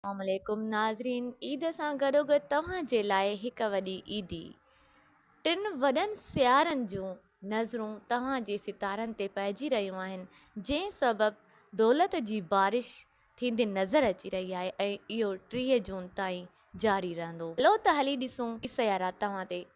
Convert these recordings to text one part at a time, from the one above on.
اسلام عليڪم ناظرين عيد سان گڏوگڏ توهان جي لاء هڪ وڏي عيدي ٽن وڏن سيارن جون نظرون توهان جي ستارن تي پئجي رهيون آهن جنهن سبب دولت جي بارش ٿيندي نظر اچي رهي آهي ۽ اهو ٽيهه جون تائين جاري رهندو هلو ته هلي ڏسون ڪي سيارا توهان تي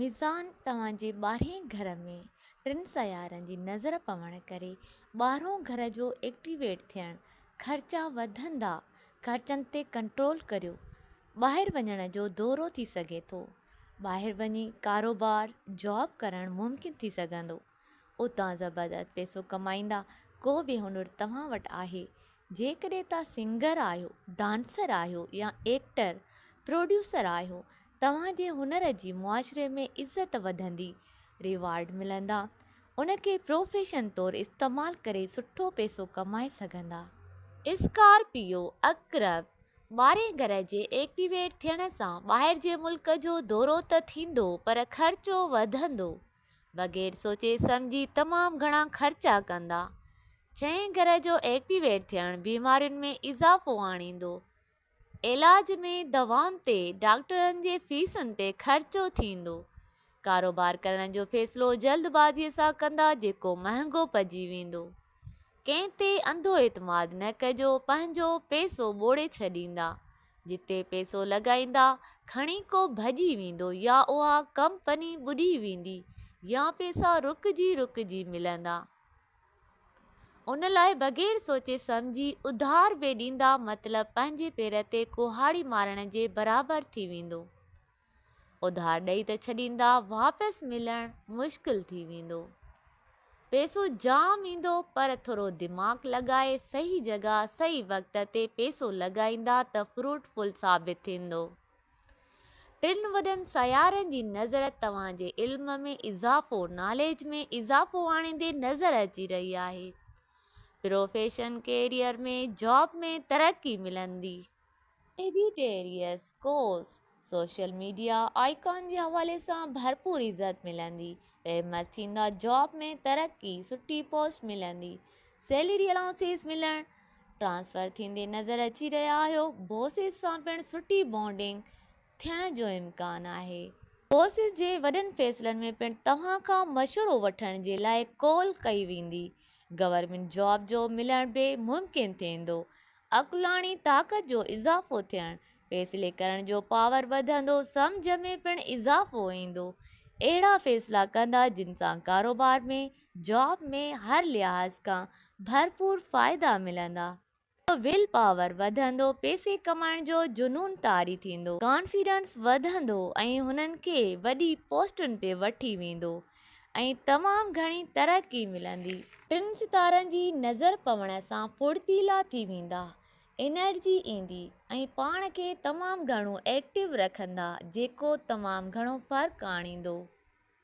ميزان توهان جي ٻاهرئين گهر ۾ ٽن سيارن جي نظر پوڻ ڪري ٻاهرئون گهر جو ايڪٽيويٽ ٿيڻ خرچا وڌندا خرچن تي ڪنٽرول ڪريو ٻاهر وڃڻ جو دورو ٿي سگهي ٿو ٻاهر وڃي ڪاروبار جاب ڪرڻ ممڪن ٿي سگهندو اتان زبردست پيسو ڪمائيندا، ڪو به هنر توهان وٽ آهي، جيڪڏهن توهان سنگر آهيو، ڊانسر آهيو يا ايڪٽر، پروڊيوسر آهيو، توهان جي هنر جي معاشري ۾ عزت وڌندي، ريوارڊ ملندا، ان کي پروفيشن طور استعمال ڪري سٺو پيسو ڪمائي سگهندا. اسڪارپيو عقرب ٻارهين گهر جي ايڪٽيويٽ ٿيڻ سان ٻاهر جي ملڪ جو دورو ته ٿيندو پر خرچو وڌندو، بغير سوچي سمجهي تمام گهڻا خرچا ڪندا. ڇهين گهر جو ايڪٽيويٽ ٿيڻ بيمارين ۾ اضافو آڻيندو. علاج ۾ دوائن تي، ڊاڪٽرن جي فيسن تي خرچو ٿيندو. ڪاروبار ڪرڻ جو فيصلو جلد بازي سان ڪندا جيڪو مهانگو پئجي ويندو. ڪنهن تي انڌو اعتماد نه ڪجو پنهنجو پيسو ٻوڙي ڇڏيندا جتي پيسو لڳائيندا کڻي ڪو ڀڄي ويندو يا اها ڪمپني ٻڏي ويندي يا پيسا رڪجي رڪجي ملندا ان لاء بغير سوچي سمجهي اڌار به ڏيندا مطلب پنهنجي پير تي ڪهاڙي مارڻ جي برابر ٿي ويندو. اڌار ڏئي ته ڇڏيندا واپس ملڻ مشڪل ٿي ويندو. پيسو جام ايندو پر ٿورو دماغ لڳائي صحيح جڳهه صحيح وقت تي پيسو لڳائيندا ته فروٽ فل ثابت ٿيندو. ٽن وڏن سيارن جي نظر توهان جي علم ۾ اضافو ناليج ۾ اضافو آڻيندي نظر اچي رهي آهي. پروفيشن ڪيريئر ۾ جاب ۾ ترقي ملندي. ايڊيٽيريس ڪوس، سوشل ميڊيا آئيڪان جي حوالي سان ڀرپور عزت ملندي، فيمس ٿيندا جاب ۾ ترقي، سٺي پوسٽ ملندي، سيلري الائونسز ملڻ، ٽرانسفر ٿيندي نظر اچي رهيا آهيو، بوسز سان پڻ سٺي بانڊنگ، ٿيڻ جو امڪان آهي. بوسز جي وڏن فيصلن ۾ پڻ توهان کان مشورو وٺڻ جي لاء ڪول ڪئي ويندي. گورنمينٽ جاب جو ملڻ به ممڪن ٿيندو. عقلاڻي طاقت جو اضافو ٿيڻ، فيصلي ڪرڻ جو پاور وڌندو، سمجهه ۾ پڻ اضافو ايندو. اهڙا فيصلا ڪندا جن سان ڪاروبار ۾، جاب ۾، هر لحاظ کان ڀرپور فائدا ملندا. ويل پاور وڌندو، پئسي ڪمائڻ جو جنون طاري ٿيندو، ڪانفيڊنس وڌندو ۽ هنن کي وڏي پوسٽن تي وٺي ويندو ۽ تمام گهڻي ترقي ملندي. ٽن ستارن جي نظر پوڻ سان ڦڙتيلا ٿي ويندا، انرجي ايندي ۽ پاڻ کي تمام گهڻو ايڪٽو رکندا جيڪو تمام گهڻو فرق آڻيندو.